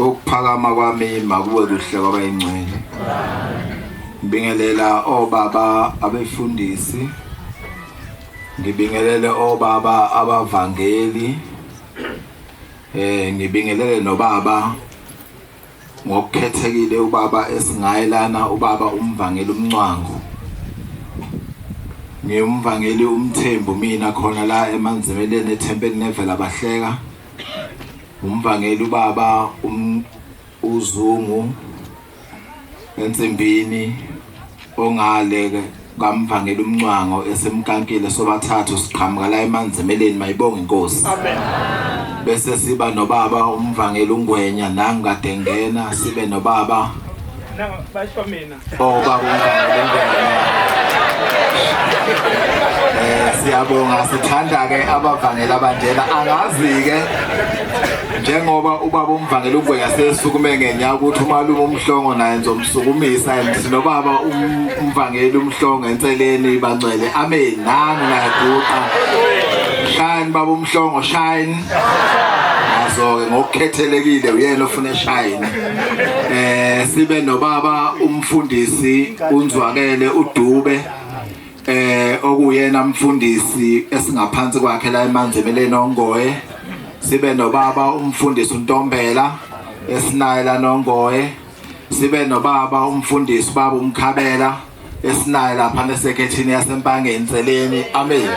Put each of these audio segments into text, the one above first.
ukuphakama kwami makube kuhle kwabayingcwele ngibingelela obaba abefundisi ngibingelele obaba abavangeli Eh ngibingelele nobaba ngokukhethekile ubaba esingayelana ubaba umvangeli umncwango ngiyumvangeli umthembu mina khona la emanzimeleni ethempelini nevela bahleka umvangeli ubaba um, uzungu ensimbini ongale ke kamvangela umncwango esimkankile sobathathu siqhamuka la emanzimeleni mayibonga inkosi amen bese siba nobaba umvangela ungwenya nangikade ngena sibe nobaba basho mina oh baba umvangela ungwenya eh siyabonga sithanda ke abavangela bandela angazi ke njengoba ubaba umvangela ugwenya sesukume ngenya ukuthi umalume umhlongo naye ngizomsukumisa and nobaba um, umvangeli umhlongo enseleni bangcwele amen nami nayaguqa shine baba umhlongo shine nazo-ke ngokukhethelekile uyena ofuna eshayini eh sibe nobaba umfundisi unzwakele udube eh okuyena mfundisi esingaphansi kwakhe la emanzebeleni ongoye sibe nobaba umfundisi uNtombela esinaye la nongoye sibe nobaba umfundisi baba umkhabela esinaye lapha nesekethini yasempangeni seleni amen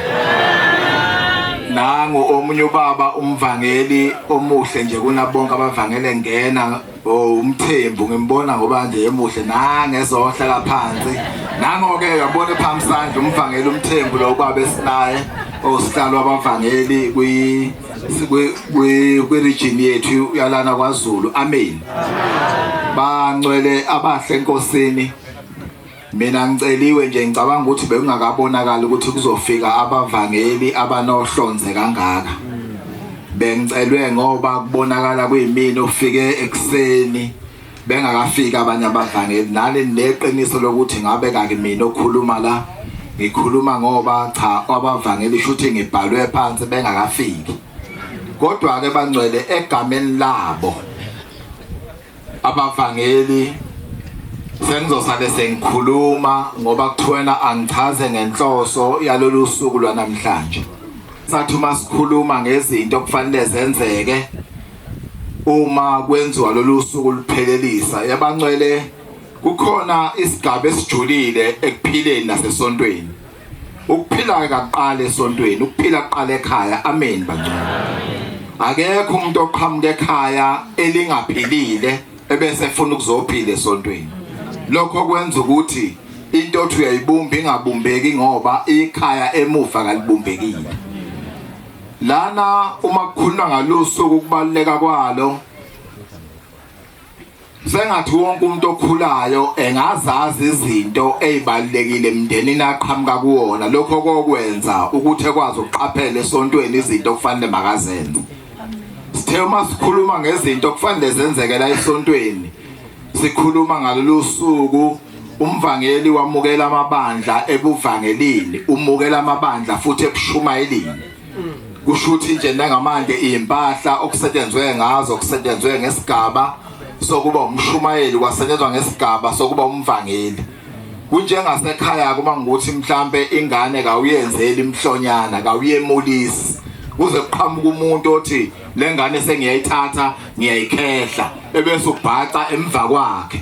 nangu omunye ubaba umvangeli omuhle nje kunabonke abavangele ngena Oh umthembu ngimbona ngoba nje emuhle nangezohla laphansi nangoke yabona ephamsandla umvangeli umthembu lo kwabe sinaye osihlalo abavangeli kwi kwi kwi region yethu yalana kwaZulu amen bangcwele abahle enkosini Mina ngiceliwe nje ngicabanga ukuthi bekungakabonakala ukuthi kuzofika abavangeli abanohlonze kangaka. Bengicelwe ngoba kubonakala kuyimini ofike ekseni bengakafika abanye abavangeli nale neqiniso lokuthi ngabe kakimina okhuluma la ngikhuluma ngoba cha abavangeli shuthi ngibhalwe phansi bengakafiki. Kodwa ke bangcwele egameni labo Abavangeli sengizosale sengikhuluma ngoba kuthiwena angichaze ngenhloso yalolu suku lwanamhlanje sathi uma sikhuluma ngezinto okufanele zenzeke uma kwenziwa lolu suku luphelelisa yabancwele kukhona isigaba esijulile ekuphileni nasesontweni ukuphila kaqala esontweni ukuphila kuqala ekhaya amen bangcwele akekho umuntu oqhamuka ekhaya elingaphilile ebese efuna ukuzophila esontweni lokho kwenza ukuthi into othi uyayibumba ingabumbeki ngoba ikhaya emuva kalibumbekile lana uma kukhuluma ngalosuku ukubaluleka kwalo Sengathi wonke umuntu okhulayo engazazi izinto ezibalekile emndenini aqhamuka kuwona lokho kokwenza ukuthi ekwazi ukuqaphela esontweni izinto okufanele makazenze. Sithe uma sikhuluma ngezinto okufanele zenzeke la esontweni sikhuluma ngalolu suku umvangeli wamukela amabandla ebuvangelini umukela amabandla futhi ebushumayelini kushuthi nje nangamanje izimpahla okusetshenzwe ngazo kusetshenzwe ngesigaba sokuba umshumayeli kwasetshenzwa ngesigaba sokuba umvangeli kunjengasekhaya kuma ngukuthi mhlambe ingane kawuyenzeli imhlonyana kawuyemulisi kuze kuqhamuka umuntu othi lengane sengiyayithatha ngiyayikhehla ebese ubhaca emva kwakhe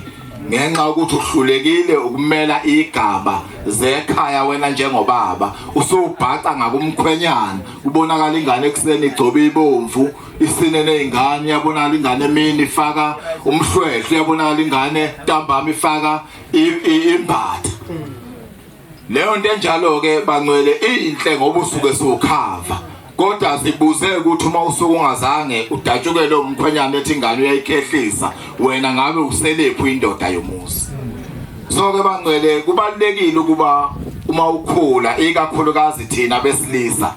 ngenxa yokuthi uhlulekile ukumela igaba zekhaya wena njengobaba usubhaca ngakumkhwenyana kubonakala ingane ekuseni igcobe ibomvu isine nezingane yabonakala ingane emini ifaka umhlwehlwe yabonakala ingane ntambama ifaka imbatha Leyo nto enjalo-ke bangcwele iyinhle ngoba usuke siwukhava kodwa sibuze ukuthi uma usuke ungazange udatshukele umkhwenyana ethi ingane uyayikhehlisa wena ngabe uselephu indoda yomuzi so-ke bangcwele kubalulekile ukuba uma ukhula ikakhulukazi thina besilisa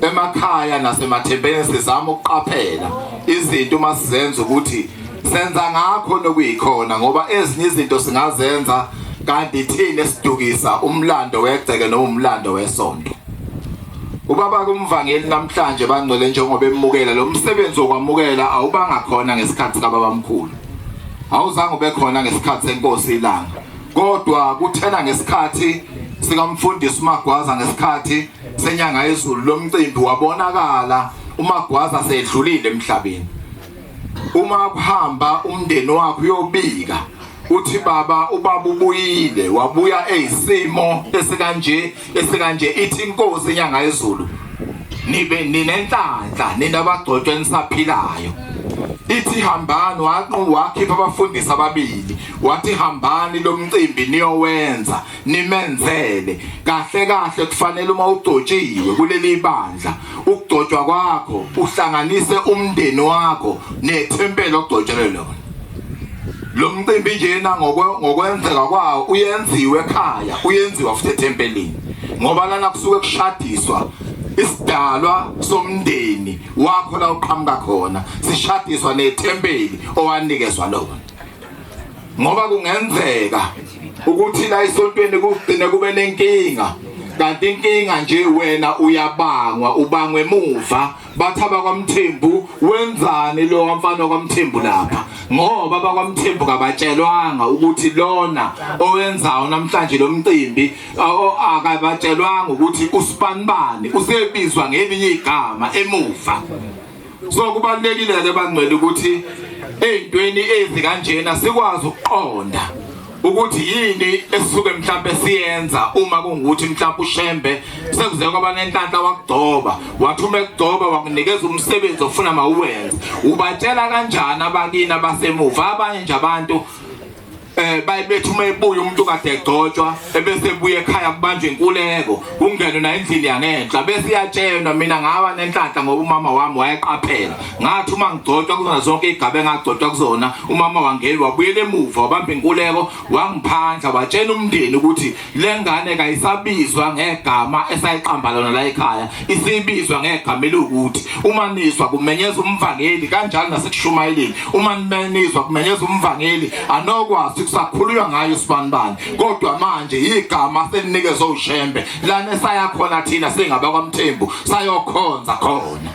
emakhaya nasemathempeni sizama ukuqaphela izinto uma sizenza ukuthi senza ngakho nokuyikhona ngoba ezinye izinto singazenza kanti thina esidukisa umlando wegceke noma umlando wesonto ubaba kumvangeli namhlanje bangcwele njengoba emukela lo msebenzi wokwamukela awubanga khona ngesikhathi kababamkhulu awuzange ube khona ngesikhathi senkosi ilanga kodwa kuthena ngesikhathi sikamfundisi uMagwaza ngesikhathi senyanga yezulu lomcimbi wabonakala umagwaza sedlulile emhlabeni uma kuhamba umndeni wakho uyobika uthi baba ubaba ubuyile wabuya eyisimo esikanje esikanje ithi inkosi inyanga yezulu nibe ninenhlanhla nina bagcotshwe nisaphilayo ithi hambani waqhu wakhipha abafundisi ababili wathi hambani lomcimbi niyowenza nimenzele kahle kahle kufanele uma ugcotshiwe kuleli bandla ukugcotshwa kwakho uhlanganise umndeni wakho nethempeli ogcotshelwe lona lo mcimbi njena ngokwenzeka kwawo uyenziwe ekhaya uyenziwa futhi ethempelini ngoba lana kusuke kushadiswa isidalwa somndeni wakho la uqhamuka khona sishadiswa nethempeli owanikezwa lona ngoba kungenzeka ukuthi la esontweni kugcine kube nenkinga kanti inkinga nje wena uyabangwa ubangwe muva bathi abakwamthembu wenzani lo wamfana kwamthembu lapha ngoba abakwamthembu kabatshelwanga ukuthi lona owenzayo namhlanje lo mcimbi akabatshelwanga ukuthi usibanibani usebizwa ngelinye igama emuva so kubalekile ke bangcwele ukuthi ezintweni ezikanjena sikwazi ukuqonda ukuthi yini esisuke mhlawumbe siyenza uma kungukuthi mhlawumbe ushembe sekuze kwaba nenhlanhla wakugcoba wathi uma ekugcoba wakunikeza umsebenzi ofuna mawuwenze ubatshela kanjani abakini abasemuva abanye nje abantu eh bayibethi uma ebuya umuntu kade egcotshwa ebese ebuya ekhaya kubanjwe inkuleko kungenwe na endlini yangenhla bese iyatshelwa mina ngaba nenhlanhla ngoba umama wami wayeqaphela ngathi uma ngigcotshwa kuzona zonke igabe engagcotshwa kuzona umama wangeli wabuyela emuva wabamba inkuleko wangiphandla watshela umndeni ukuthi Le ngane kayisabizwa ngegama esayiqamba lona la ekhaya, isibizwa ngegama elukuthi uma nizwa kumenyeza umvangeli kanjalo nasekushumayeleni. Uma nizwa kumenyeza umvangeli anokwazi kusakhuluywa ngayo sibanibani. Kodwa manje igama selinikezwe uShembe lana esaya khona thina singaba kwaMthembu sayokhonza khona.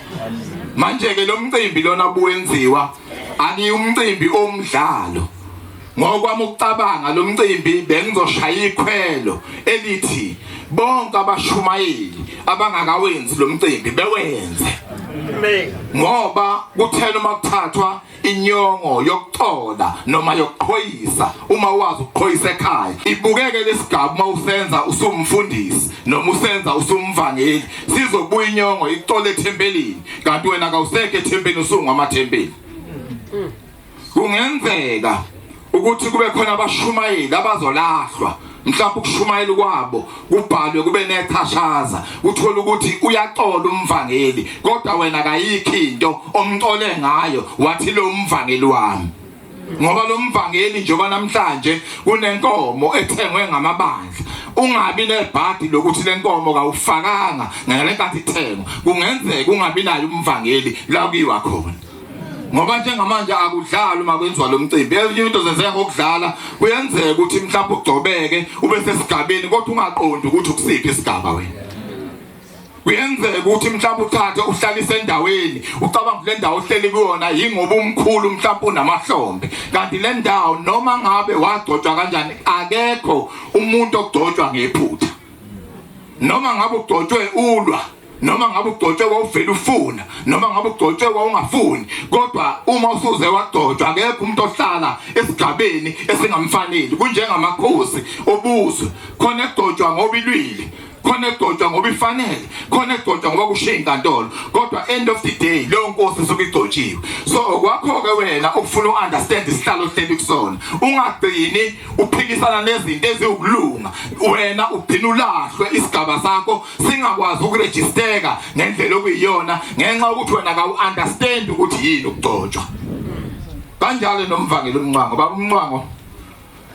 Manje ke lo mcimbi lona buwenziwa akuyumcimbi omdlalo. Ngokwami ukucabanga lo mcimbi bengizoshaya ikhwelo elithi bonke abashumayeli abangakawenzi lo mcimbi bewenze ngoba kuthela uma kuthathwa inyongo yokuxola noma yokuqhoyisa uma wazi ukuqhoyisa ekhaya ibukeke lesigaba uma usenza usumfundisi noma usenza usumvangeli sizobuya inyongo ixole ethempelini kanti wena kawusekho ethempelini usungwa amathempeli kungenzeka ukuthi kube khona abashumayeli abazolahlwa mhlawumbe ukushumayela kwabo kubhalwe kube nethashaza uthola ukuthi uyaxola umvangeli kodwa wena kayikho into omxole ngayo wathi lo mvangeli wami ngoba lo mvangeli njengoba namhlanje kunenkomo ethengwe ngamabandla ungabi nebhadi lokuthi lenkomo kawufakanga ngale nkathi ithengwa kungenzeka ungabi nayo umvangeli la kuyiwa khona ngoba njengamanje akudlalwa uma kwenziwa lo mcimbi ezinye into zenzeka ngokudlala kuyenzeka ukuthi mhlawumbe ugcobeke ube sesigabeni kodwa ungaqondi ukuthi ukusiphi isigaba wena kuyenzeka ukuthi mhlawumbe uthathe uhlalise endaweni ucabanga kule ndawo ohleli kuyona yingoba umkhulu mhlawumbe unamahlombe kanti le ndawo noma ngabe wagcotshwa kanjani akekho umuntu ogcotshwa ngephutha noma ngabe ugcotshwe ulwa noma ngabe ugcotshwe wawuvele ufuna noma ngabe ugcotshwe wawungafuni kodwa uma usuze wagcotshwa akekho umuntu ohlala esigabeni esingamfaneli kunjengamakhosi obuzwe khona egcotshwa ngoba ilwile khona egcotshwa ngoba ifanele khona egcotshwa ngoba kushiya inkantolo kodwa end of the day leyo nkosi isuke igcotshiwe so kwakho-ke wena ukufuna u-understand isihlalo ohleli kusona ungagcini uphikisana nezinto eziwukulunga wena ugcina ulahlwe isigaba sakho singakwazi ukurejisteka ngendlela okuyiyona ngenxa yokuthi wena kawu-understand ukuthi yini ukugcotshwa kanjalo nomvangeli umncango baba umncango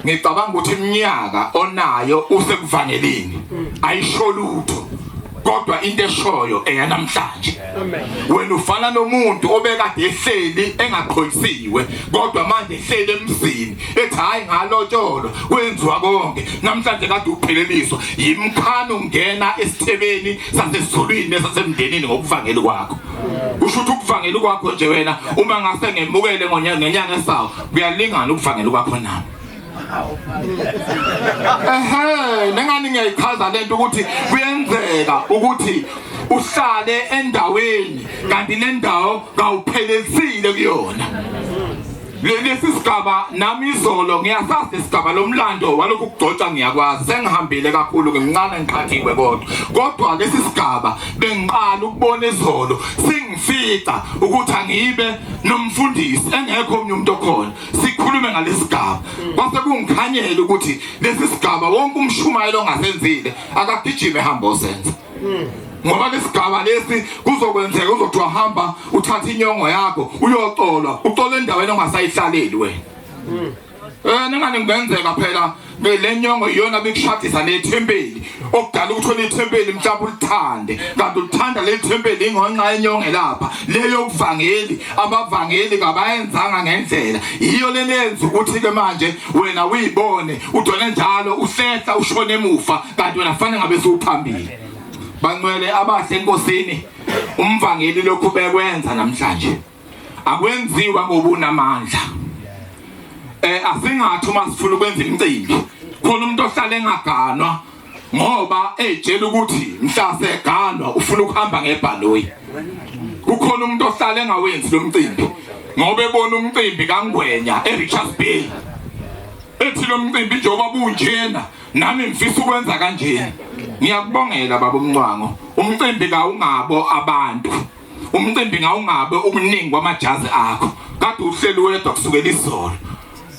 ngicabanga ukuthi iminyaka onayo usekuvangelini ayisho lutho kodwa into eshoyo eyanamhlanje wena ufana nomuntu obekade ehleli engaqhoyisiwe kodwa manje ehleli emzini ethi hayi ngalotsholwa kwenziwa konke namhlanje kade upheleliswa yimkhani ungena esithebeni sasezulwini nesasemndenini ngokuvangeli kwakho kusho ukuthi ukuvangeli kwakho nje wena uma ngase ngemukele ngenyanga esawo kuyalingana ukuvangeli kwakho nami ehe nengani ngiyayichaza lento ukuthi kuyenzeka ukuthi uhlale endaweni kanti le ndawo kawuphelezile kuyona lesi sigaba nami izolo ngiyasazi isigaba lomlando walokhu kugcotshwa ngiyakwazi sengihambile kakhulu ngimncane ngiqhathiwe kodwa kodwa lesi sigaba bengiqala ukubona izolo singifica ukuthi angibe nomfundisi engekho omnye umuntu okhona sikhulume ngalesigaba mm. kwase kungikhanyele ukuthi lesi sigaba wonke umshumayelo ongasenzile akagijime hamba osenza mm. ngoba lesigaba lesi kuzokwenzeka uzothi wahamba uthatha inyongo yakho uyoxolwa uxola endaweni ongasayihlaleli wena mm. eh ningane kungenzeka phela Be le nyongo iyona bikushadisa nethempeli okudala ukuthi wena ithempeli mhlawumbe ulithande kanti ulithanda leli thempeli ingonxa yenyonge lapha leyo kuvangeli abavangeli kabayenzanga ngendlela yiyo le lenza ukuthi ke manje wena uyibone udone njalo uhlehla ushone emuva kanti wena fanele ngabe siwuphambili bancwele abahle enkosini umvangeli lokhu bekwenza namhlanje akwenziwa ngobunamandla eh asingathi uma sifuna ukwenza imicimbi khona umuntu ohlala engaganwa ngoba ejela ukuthi mhlase eganwa ufuna ukuhamba ngebhaloyi kukhona umuntu ohlala engawenzi lo mcimbi ngoba ebona umcimbi kangwenya eRichards Bay ethi lo mcimbi njengoba bunjena nami ngifisa ukwenza kanjena ngiyakubongela baba umncwango umcimbi kawungabo abantu umcimbi ngawungabe ubuningi kwamajazi akho kade uhleli wedwa kusukela izolo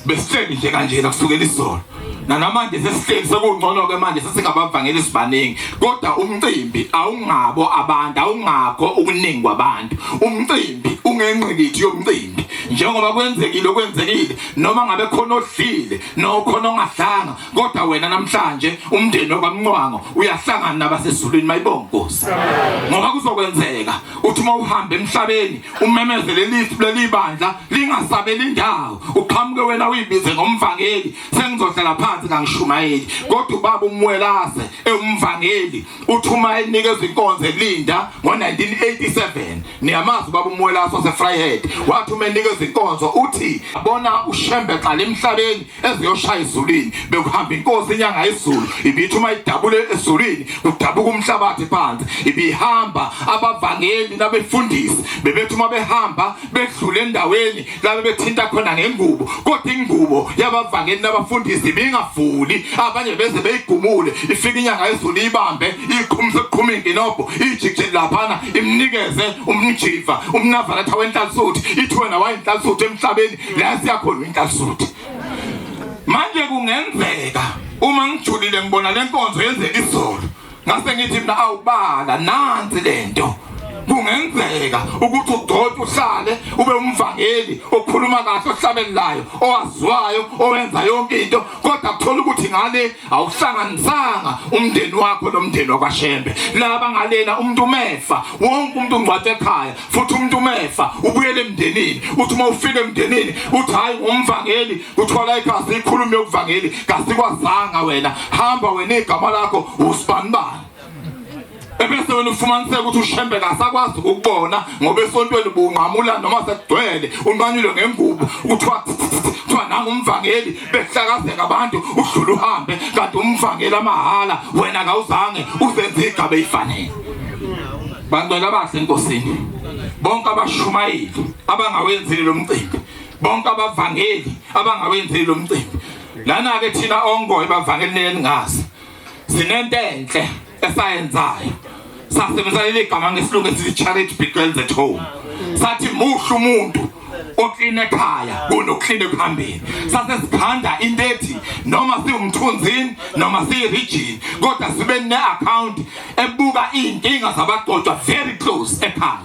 besihleli nje kanjena kusukela izolo nanamanje sesihleli sekungcono ke manje sesingabavangeli sibaningi kodwa umcimbi awungabo abantu awungakho ukuningi kwabantu umcimbi ungenqikithi yomcimbi njengoba kwenzekile okwenzekile noma ngabe khona odlile nokhona ongahlanga kodwa wena namhlanje umndeni wakwamncwango uyahlangana nabasezulwini mayibonga Nkosi ngoba kuzokwenzeka uthi uma uhamba emhlabeni umemezele lithi leli bandla lingasabeli indawo uqhamuke wena uyibize ngomvangeli sengizohlala phansi kangishumayeli kodwa ubaba umwelase ewumvangeli uthi uma enikeza inkonzo elinda ngo-1987 niyamazi ubaba umwelase wasefryhead wathi uma enikeza inkonzo uthi bona ushembe xa lemhlabeni eziyoshaya ezulwini bekuhamba inkosi inyanga izulu ibithi uma idabule ezulwini kudabuka umhlabathi phansi ibihamba abavangeli nabefundisi bebethi uma behamba bedlule endaweni labe bethinta khona ngengubo kodwa ingubo yabavangeli nabafundisi ibingavuli abanye beze beyigumule ifike inyanga izulu ibambe iqhumse kuqhuma inginobho ijikje laphana imnikeze umjiva umnavalatha wenhlansuthi ithi wena wayinhlansuthi emhlabeni la siyakhona intasuthi manje kungenzeka uma ngijulile ngibona lenkonzo yenzeka izolo ngase ngithi mina awubala nansi lento kungenzeka ukuthi ugcotshwe uhlale ube umvangeli okhuluma kahle ohlabelelayo owaziwayo owenza yonke into kodwa kuthola ukuthi ngale awuhlanganisanga umndeni wakho nomndeni wakwaShembe laba ngalena umuntu umefa wonke umuntu ungcwathe ekhaya futhi umuntu umefa ubuyele emndenini uthi uma ufika emndenini uthi hayi ngumvangeli kuthola igazi ikhulume yokuvangeli kasikwazanga wena hamba wena igama lakho usibanibani ebese wena ufumaniseka ukuthi ushembe kasakwazi ukubona ngoba esontweni bunqamula noma sekugcwele unqanyule ngengubo kuthiwa kuthiwa nangu umvangeli behlakazeka abantu udlule uhambe kanti umvangeli amahala wena kawuzange uzenze igaba eyifanele bantwana abahle enkosini bonke abashumayeli abangawenzile lo mcimbi bonke abavangeli abangawenzile lo mcimbi lana-ke thina ongoye bavangelini elingazi sinento enhle esayenzayo sasebenzisa leli gama ngesilungu esithi charity begins at home sathi muhle umuntu oklina ekhaya kunoklina ekuhambeni sase sikhanda into ethi noma siwumthunzini noma siyirijini kodwa sibe ne-akhawunti ebuka iy'nkinga zabagcotshwa very close ekhaya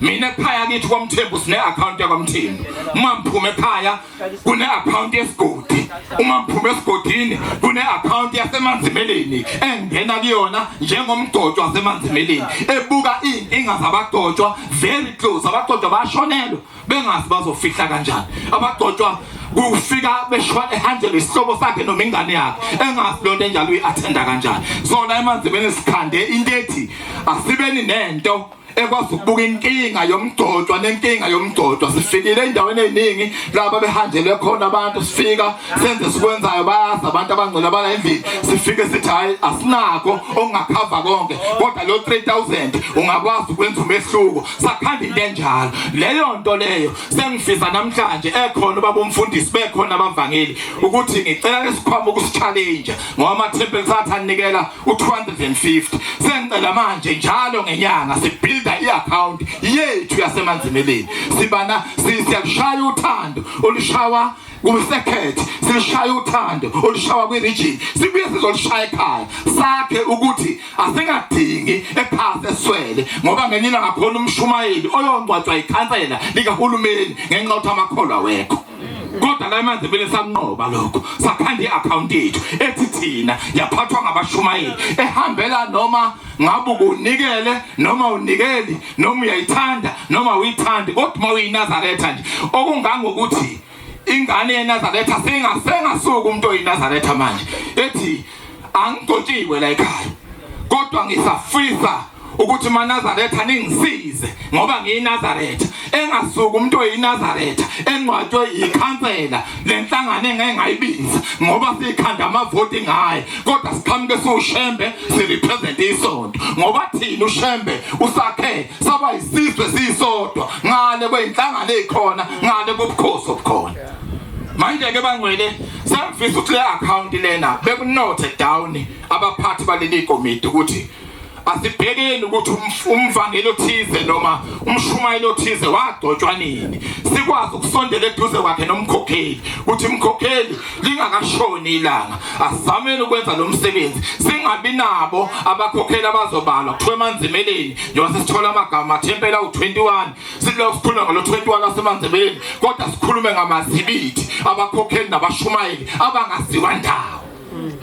mina ekhaya kithi kwamthembu sine-akhawunti yakwamthembu uma ngiphume ekhaya kune-akhawunti yesigodi uma ngiphume esigodini kune-akhawunti yasemanzimeleni engena kuyona njengomgcotshwa wasemanzimeleni ebuka iy'nkinga zabagcotshwa very close abagcotshwa bashonelwe bengazi bazofihla kanjani abagcotshwa kufika beshona ehanjelwe isihlobo sakhe noma ingane yakhe engazi leyo nto enjalo uyi-athenda kanjani sona emanzimeni sikhande into ethi asibeni nento ekwazi ukubuka inkinga yomgcotshwa nenkinga yomgcotshwa sifikile endaweni eziningi laba behanjelwe khona abantu sifika senze sikwenzayo bayazi abantu abangcwele abala endlini sifike sithi hayi asinako okungakhava konke kodwa lo 3000 ungakwazi ukwenza umehluko sakhanda into enjalo leyo nto leyo sengifisa namhlanje ekhona ubaba umfundisi bekhona abavangeli ukuthi ngicela lesikhwama ukusichallenge ngoba ama-temple sathi anikela u-250 sengicela manje njalo ngenyanga sibuilda i-account yethu yasemanzimeleni sibana siyalushaya uthando olushawa kusekhethe sishaya uthando olushawa kwi-region sibuye sizolushaya ekhaya sakhe ukuthi asingadingi ephasi eswele ngoba ngenye ilanga khona umshumayeli oyongcwatshwa ikhansela likahulumeni ngenxa yokuthi amakholwa wekho kodwa la manje vele sanqoba lokho sakhanda i-akhawunti yethu ethi thina yaphathwa ngabashumayeli ehambela noma ngabe ukunikele noma unikeli noma uyayithanda noma uyithandi kodwa uma uyinazaretha nje okungangokuthi ingane yenazaretha singasuka umuntu oyinazaretha manje ethi angigotshiwe la ekhaya kodwa ngisafisa ukuthi manazaretha ningisize ngoba ngiyinazaretha engasuka umuntu oyinazaretha engcwatshwe yikhansela lenhlangano engeke ngayibiza ngoba sikhanda amavoti ngaye kodwa siqhamuke siwushembe sirepresent isonto ngoba thina ushembe usakhe saba isizwe sisodwa ngale kweyinhlangano ezikhona ngale kobukhosi obukhona manje ke bangwele sangifisa ukuthi le account lena bekunothe down abaphathi baleli komiti ukuthi asibhekeni ukuthi umvangeli othize noma umshumayeli othize wagcotshwa nini sikwazi ukusondela eduze kwakhe nomkhokheli ukuthi umkhokheli lingakashoni ilanga asizameni ukwenza lo msebenzi singabi nabo abakhokheli abazobalwa kuthiwa emanzimeleni njengoba sesithola amagama athempela u-21 silokhu sikhuluma ngalo 21 lasemandebeni kodwa sikhulume ngamazibithi abakhokheli nabashumayeli abangaziwa ndawo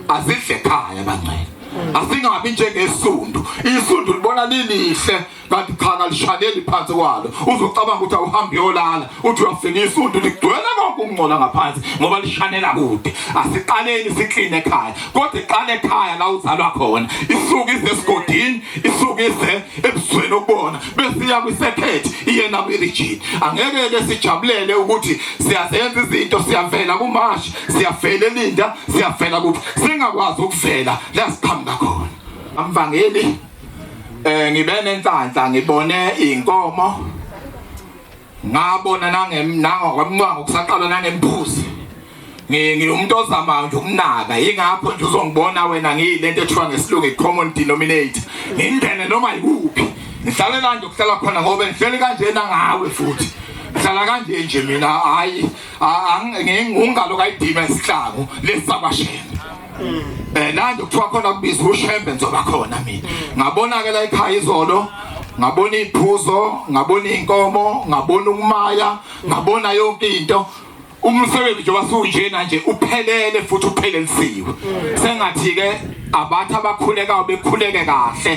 azidle ekhaya bangcwele asingabi njengesundu isundu libona lilihle kanti cha kalishaneli phansi kwalo uzocabanga ukuthi awuhambi yolala uthi uyafika isundu ligcwele konke ukungcola ngaphansi ngoba lishanela kude asiqaleni sikline ekhaya kodwa iqale ekhaya la uzalwa khona isuke izesigodini isuke ize ebusweni ukubona besiya kwisekhethi iye nakwirigini angeke ke sijabulele ukuthi siyazenza izinto siyavela kumashi siyavela elinda siyavela kuphi singakwazi ukuvela la siqhamuka khona amvangeli eh ngibe nenhlanhla ngibone inkomo ngabona nangokwemncango kusaqalwa nangembuzi ngiwumuntu ozamayo nje ukunaka yingakho nje uzongibona wena ngiyile nto ethiwa ngesilungu i-common denominator ngingene noma yikuphi ngihlale kanje ukuhlala khona ngoba ngihleli kanjena ngawe futhi ngihlala kanje nje mina hhayi ngengalo kayidima isihlabo lesabashela eh nandi kuthiwa khona kubiza ushembe ngizoba khona mina ngabona ke la ekhaya izolo ngabona iphuzo ngabona inkomo ngabona ukumaya ngabona yonke into umsebenzi nje wasuwunjena nje uphelele futhi uphelelisiwe sengathi ke abathi abakhulekayo bekhuleke kahle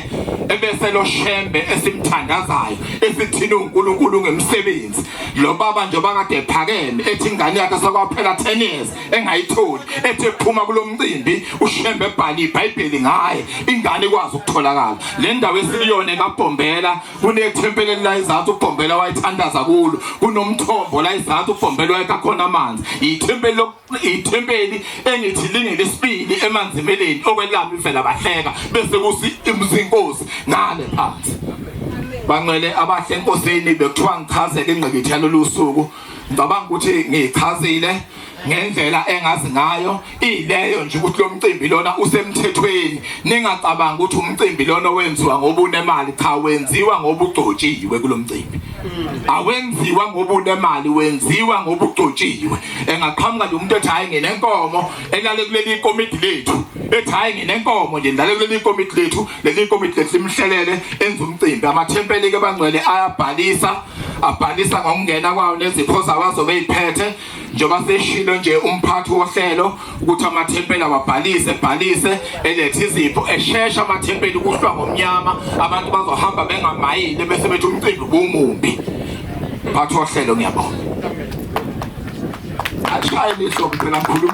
ebese lo shembe esimthandazayo esithina uNkulunkulu ngemsebenzi lo baba nje bakade ephakeme ethi ingane yakhe sekwaphela 10 years engayitholi ethi ephuma kulomcimbi ushembe ebhala iBhayibheli ngaye ingane ikwazi ukutholakala le ndawo esiliyona eMabhombela kunethempeli elayizathu uBhombela wayithandaza kulo kunomthombo layizathu uBhombela wayekha khona amanzi ithempeli ithempeli engithi lingelesibili emanzimeleni okwelami mfela bahleka bese kusi imzinkosi ngale phansi banxele abahle enkosini bekuthiwa ngichazele ingqikithi yalolu suku ngicabanga ukuthi ngiyichazile ngendlela engazi ngayo ileyo nje ukuthi lo mcimbi lona usemthethweni ningacabanga ukuthi umcimbi lona owenziwa ngobunemali cha wenziwa ngobugcotshiwe kulo mcimbi awenziwa ngoba unemali wenziwa ngoba ugcotshiwe engaqhamuka nje umuntu ethi hayi nginenkomo elale kuleli komiti lethu ethi hayi nginenkomo nje ndale kuleli komiti lethu leli komiti lethu limhlelele enza umcimbi amathempeli ke bangcwele ayabhalisa abhalisa ngokungena kwawo nezipho zawazo beyiphethe njengoba seshilo nje umphathi wohlelo ukuthi amathempeli awabhalise ebhalise elethe izipho eshesha amathempeli kuhlwa ngomnyama abantu bazohamba bengamayile bese bethi umcimbi bumumbi mphathi wohlelo ngiyabonga ashaye liso kuphela mkhulumi